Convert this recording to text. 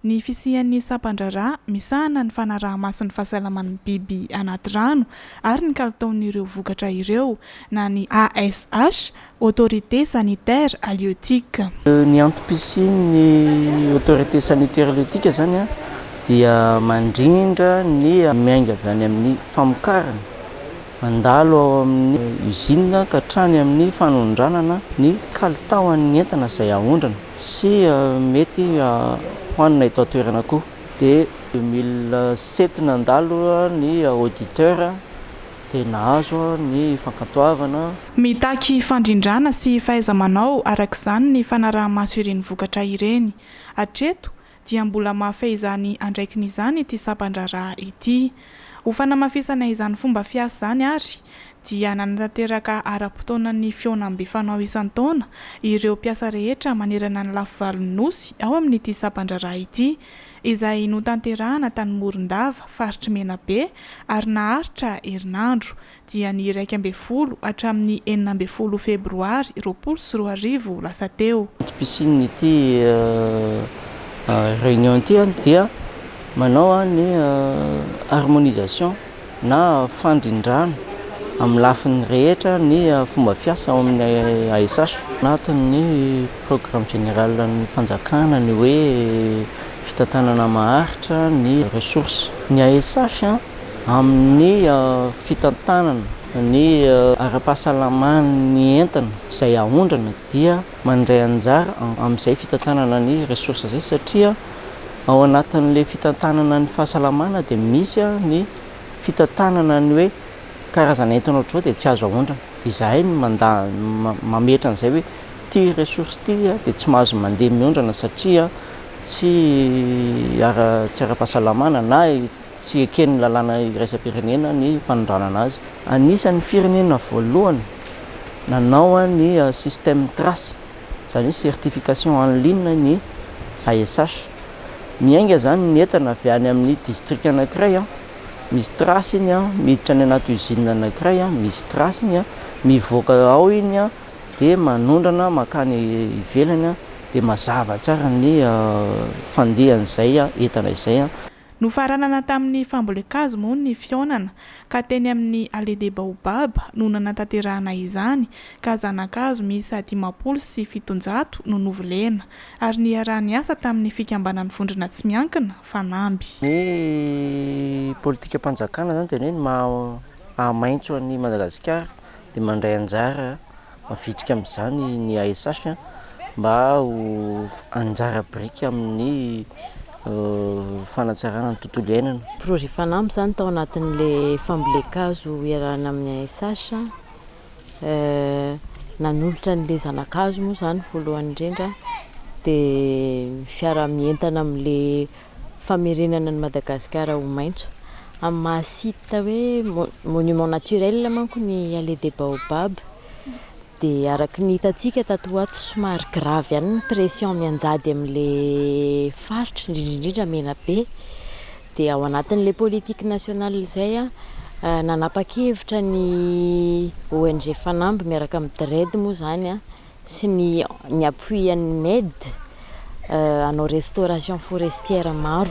Ny fisian'ny sampan-draharaha misahana ny fanaraha-maso ny fahasalaman'ny biby anaty rano ary ny kalitaon'ireo vokatra ireo na ny ASH, Autorité Sanitaire Halieutique. Ny antom-pisian'ny Autorité Sanitaire Halieutique izany dia mandrindra ny miainga avy any amin'ny famokarana, mandalo ao amin'ny usine ka hatrany amin'ny fanondranana ny kalitaon'ny entana izay aondrana. Sy mety hohanina eto an-toerana koa. Dia deux mille sept nandalo ny auditeur dia nahazo ny fankantoavana. Mitaky fandrindrana sy fahaiza-manao araka izany ny fanaraha-maso ireny vokatra ireny. Hatreto, dia mbola mahafehy izany andraikiny izany ity sampan-draharaha ity. Ho fanamafisana izany fomba fiasa izany ary dia nanatanteraka ara-potoana ny fihaonambe fanao isan-taona ireo mpiasa rehetra manerana ny lafivalon'ny Nosy ao amin'ity sampan-draharaha ity izay notanterahana tany Morondava, faritr'i Menabe ary naharitra herinandro dia ny iraika ambin'ny folo hatramin'ny enina ambin'ny folo febroary roapolo sy roa arivo lasa teo. Ity piscine ity réunion ity dia manao ny harmonisation na fandrindrana amin'ny lafiny rehetra ny fomba fiasa ao amin'ny ASH. Anatin'ny programme général an'ny fanjakana ny hoe fitantanana maharitra ny ressources. Ny ASH. amin'ny fitantanana ny ara-pahasalaman'ny entana izay aondrana dia mandray anjara amin'izay fitantanana ny ressource izay satria ao anatin'ilay fitantanana ny fahasalamana dia misy ny fitantanana ny hoe karazana entana ohatr'izao dia tsy azo aondrana dia izahay no manda mametra an'izay hoe ity ressource ity dia tsy mahazo mandeha miondrana satria tsy ara-pahasalamana na Tsy eken'ny lalàna iraisam-pirenena ny fanondranana azy. Anisan'ny firenena voalohany nanao ny système Trace, izany hoe certification en ligne ny ASH. Miainga izany ny entana avy any amin'ny distrika anankiray, misy trace iny, miditra any anaty usine anankiray, misy trace iny, mivoaka ao iny dia manondrana mankany ivelany dia mazava tsara ny fandehan'izay entana izay. Nofaranana tamin'ny fambolen-kazo moa ny fihaonana ka teny amin'ny Allée des Baobabs no nanatanterahana izany ka zana-kazo miisa dimampolo sy fitonjato no novolena ary niaraha-niasa tamin'ny fikambanan'ny vondrona tsy miankina fanamby. Ny politikam-panjakana izany dia ny hoe ny maha maitso an'i Madagasikara dia mandray anjara Mavitrika amin'izany ny ASH mba ho anjara biriky amin'ny fanatsarana ny tontolo iainana. Projet Fanamby izany tao anatin'ilay fambolen-kazo iarahana amin'ny ASH. Nanolotra an'ilay zana-kazo moa izany voalohany indrindra dia ny fiaraha-mientana amin'ilay famerenana an'i Madagasikara ho maitso. Amin'ny maha site hoe monument naturel manko ny Allée des Baobabs dia araka ny hitantsika tato ho ato somary grave ihany ny pression mianjady amin'ilay faritra indrindra indrindra Menabe. Dia ao anatin'ilay politique nationale izay nanapa-kevitra ny ONG Fanamby miaraka amin'ny DREDD moa izany, sy ny ny appui an'ny Med hanao restauration forestière maro.